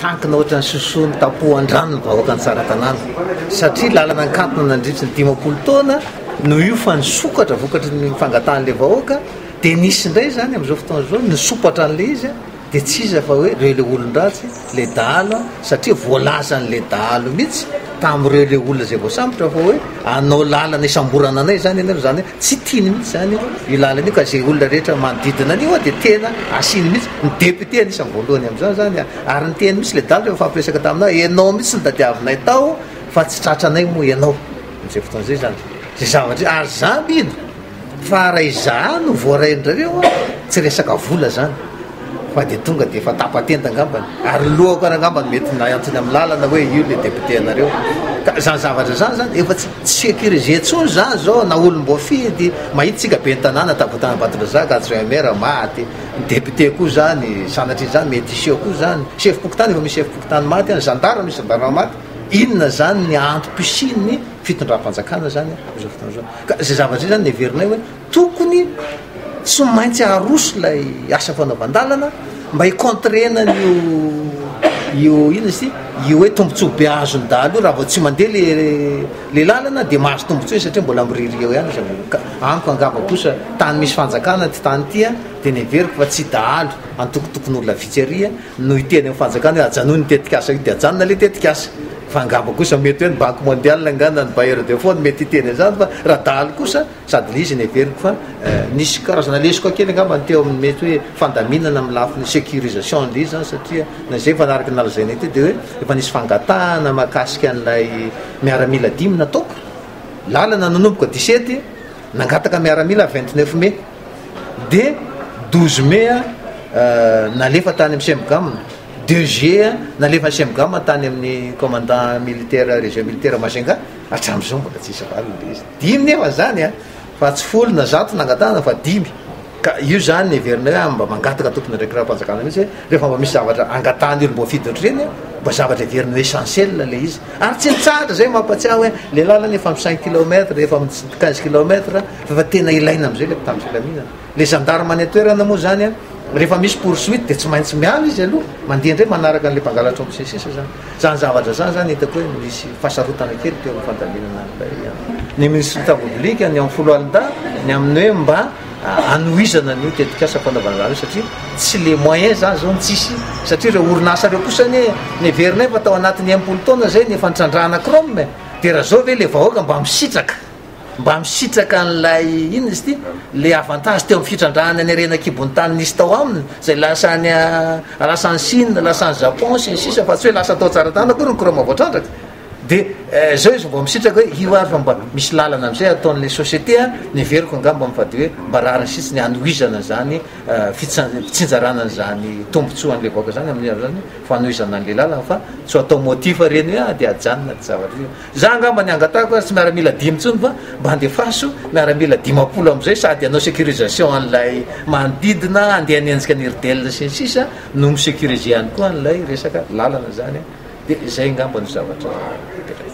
Tankina ohatran'ny sosoa notapohan-drano ny vahoaka ny Tsaratanàna, satria lalana nikatona nandritry ny dimampolo taona no io fa nisokatra vokatry ny fangatahan'ilay vahoaka, dia nisy indray izany amin'izao fotoana izao nisompatra an'ilay izy, dia tsy iza fa hoe ireo ilay olon-dratsy, ilay dahalo, satria voalazan'ilay dahalo mihitsy. tamin'ireo ilay olona izay voasambotra fa hoe anao lalana isamborana anay izany ianareo izany hoe tsy tiany mihitsy izany io lalana io ka izay olona rehetra manodidina an'io dia tena asiany mihitsy ny député anisany voalohany amin'izany izany ary ny teny mihitsy ilay dala rehefa fampiresaka taminao ianao mihitsy ny tadiavinay tao fa tsy tratranay moa ianao amin'izay fotoana izay izany izay zavatra ary izany ino Fa raha izaho no voaraindrareo a! tsy resaka vola zany fa de tonga de efa tapa-tenda angambany ary lohako ary angamba no mety nahantsony amin'ny lalana hoe io le député anareo ka izany zavatra izany zany efa tsy sécurisé intsony izany izao na olom-boafidy mahita tsika ben'ny tanàna tabatana Ambatondrazaka adjoint maire maty ny député koa zany sanatria izany mety hiseho koa zany sefom-pokontany efa misy sefom-pokontany maty any zandary misy zandary maty inona zany ny antom-pisian'ny fitondram-panjakana zany amin'izao fotoana izao Ka izay zavatra izay zany no heverinay hoe tokony tsy maintsy aroso ilay asa fanaovan-dalana mba hi-contrer-na an'io io inona izy ity io hoe tombontsoa be azon'ny dahalo io raha vao tsy mandeha le le lalana dia mahazo tombontsoa izy satria mbola miririka eo ihany izy avy eo. Ka amiko angamba kosa tany misy fanjakana ity tany ity dia ny heveriko fa tsy dahalo antokotokon'olona vitsy ary no hiteny amin'ny fanjakana hoe ajanony io tetikasa io dia ajanona ilay tetikasa fa angamba kosa mety hoe ny banky mondiale angaha na ny bailleur de fonds no mety hiteny an'izany fa raha dahalo kosa sady ny izy no heveriko fa eh, nisy karazana lesoka kely angamba ny teo amin'ny mety hoe fandaminana amin'ny lafiny sécurisation an'ilay izy izany satria na izay efa araka ny nalazaina ity dia hoe efa nisy fangatahana mahakasika an'ilay miaramila dimy nataoko lalana nanomboka disety nangataka miaramila vingt neuf mai dia douze mai a nalefa tany amin'ny CMGAM, deux juillet a nalefa ny CMGAM tany amin'ny commandant militaire région militaire Majunga, hatramin'izao mbola tsisy valiny le izy. Dimy nefa izany a, fa tsy folo na zato nangatahana fa dimy. Ka io izany heverinay hoe mba mangataka tompon'andraikirahampanjakana mihitsy hoe rehefa mba misy zavatra angatahan'ny olom-boafidy ohatr'ireny a, mba zavatra heveriny ho essentiel le izy. Ary tsy nitsahatra izay mampatsiahy hoe le lalana efa amin'ny cinq kilomètres, efa amin'ny quinze kilomètres. Fa fa tena ilaina amzay le mpitandro filaminana. Le gendarme any an-toerana moa zany an, rehefa misy poursuite de tsy maintsy miala izy aloha, mandeha ndray manaraka an'le mpangalatra ao sy ny sisa zany. Zany zavatra zany zany hitako hoe misy fahasarotana kely teo amin'ny fandaminana an'ilay an, ny minisitra public ny amin'ny foloalindahy ny amin'ny hoe mba hanohizana an'io tetikasa fanaovana zany io satria tsy le moyen zany zao no tsisy satria ireo orinasa ireo kosa anie neverinay fa tao anatin'ny impolo taona zay ny efa nitrandrahana chrome e, de raha zao ve le vahoaka mba misitraka. Mba misitraka an'ilay, inona izy ity, ilay avantage teo amin'ny fitrandrahana ny harena an-kibon'ny tany nisy tao aminy, izay lasa any, lasa any Chine, lasa any Japon, sy ny sisa, fa tsy hoe lasa tao Tsaratanana akory ny courant voatrandraka. Dia eh, izao izy vao misitraka hoe io ary fa mba misy lalana amin'izay ataon'ilay société an, ny heveriko angamba fa dia hoe mba rariny sitsy ny hanohizana izany eh, fitsan- fitsinjarana an'izany tombontsoa an'ilay vahoaka izany amin'ny amin'izany fanohizana an'ilay lalana fa tsy ho atao motif ireny hoe ah dia ajanona ny zavatra ireny. Za angamba ny angatahiko ary tsy miaramila dimy intsony fa mba andefaso miaramila dimampolo amizay sady hanao securisation an'ilay manodidina handeha hanenjika ny rdl sy ny sisa no mi securiser ihany koa an'ilay resaka lalana zany an. Dia zay angamba no zavatra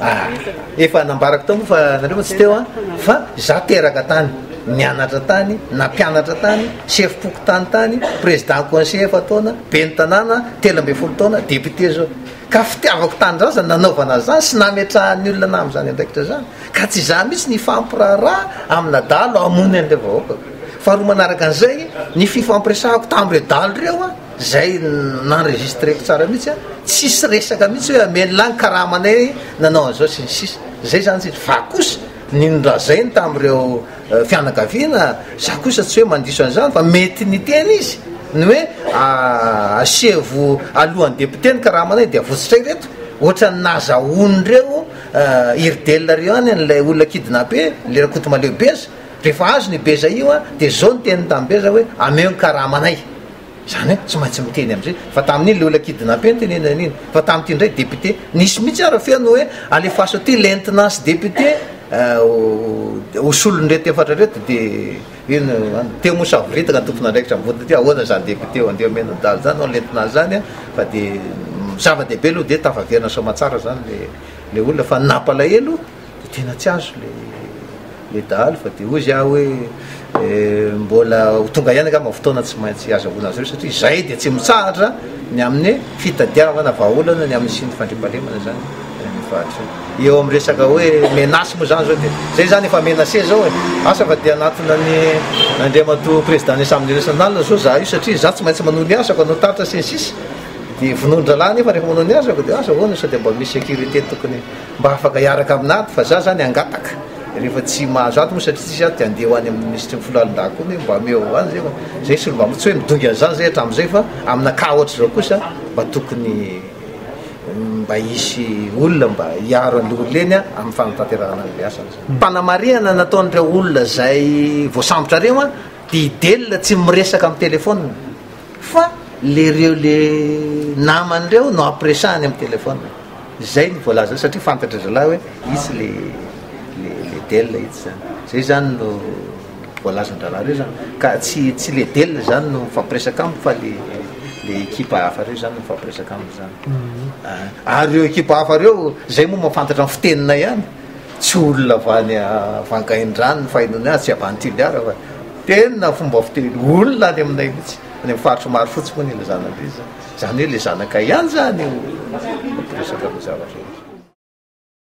ah efa nambarako tao moa fa nareo moa tsy teo an fa za teraka tany nianatra tany nampianatra tany sefom-pokontany tany président conseiller efa-taona ben'ny tanàna telo ambin'ny folo taona député zao Ka fitiavako tanindrazana no nanaovana an'izany sy nametrahan'ny olona ahy amin'izany andraikitra izany. Ka tsy izaho mihitsy ny hifampiraharaha aminà dahalo hamono an'ilay vahoakako. Faharoa manaraka an'izay, ny fifampiresahako tamin'ireo dahalo ireo, izay n'enregistreko tsara mihitsy, tsisy resaka mihitsy hoe hameno lahy ny karamanay nanao an'izao sy ny sisa. Izay izany tsy izy. Fa kosa, ny norazainy tamin'ireo fianakaviana, za kosa tsy hoe mandiso an'izany fa mety niteny izy ny hoe asevo alohan'ny député ny karamana io dia avotsotra ireto ohatran'ny nazahoan'ireo irdel ireo any an'ilay olona kidnappé le rakotomaleo beza rehefa azo ny beza io dia zao ny teniny tamin'ny beza hoe ameo ny karamanay Izany hoe tsy maintsy miteny amin'izay. Fa tamin'iny le olona kidnappé no tenenana iny. Fa tamin'ity indray député. Nisy mihitsy ary feno hoe alefaso aty lentina sy député euh, ho solon'ireto efatra ireto dia ino any teo moa savoritaka ny tompon'andraikitra mivonona aty ahoana izany député eo andeha omena daly izany no lentina azy izany fa dia zava-dehibe aloha dia tafaverina soamantsara izany le le olona fa ny nampalahelo Dia tena tsy azo ilay ilay dahalo fa dia hoy izy ahy hoe mbola ho tonga ihany angamba ny fotoana tsy maintsy hazahoana azy ireo satria izahay dia tsy mitsahatra ny amin'ny fitadiavana vahaolana ny amin'ny siny fandriampahalemana izany any amin'ny faritra any. Eo amin'ny resaka hoe menace moa izany izao dia izay izany efa menacé izao e. Asa fa dia hanatona ny Andriamatoa Président ny Assemblée Nationale izao izaho io satria izaho tsy maintsy manao ny asako, hanao taratra sy ny sisa dia vonoan-drahalahy nefa rehefa manao ny asako dia asa ahoana sao dia mba misy sécurité tokony Mba afaka hiaraka amin'ato fa za zany hangataka rehefa tsy mahazo ato moa satria tsisy ato de andeha ho any amin'ny minisitry ny foloalindahy koa mi mba ameo ho any zay fa zay solo mba tsy hoe midongy an'izany zay hatramin'izay fa amina cas ohatr'izao kosa mba tokony mba hisy olona mba hiaro an'le olona eny a amin'ny fanatanterahana an'le asany zany. Fanamarihana nataon'ireo olona izay voasambotra ireo a, dia i Del tsy miresaka amin'ny telefaonina. Fa le reo le namany reo no ampiresahany am telephone zay ny voalaza azy satria fantatry zalahy hoe itsy le le le del itsy zany zay zany no voalazan dralahy reo zany ka tsy tsy le del zany no mifampiresaka aminy fa le le ekipa hafa reo zany no mifampiresaka aminy zany ary reo ekipa hafa reo zay moa mafantatra ny fitenina ihany Tsy olona avy any Vangaindrano ny fainona azy, tsy avy any Toliara fa tena fomba fiteny olona any aminay mihitsy, any amin'ny faritry Marofotsy moa ilay zanany be, izany hoe ilay zanakay ihany izany no miresaka an'io zavatra io.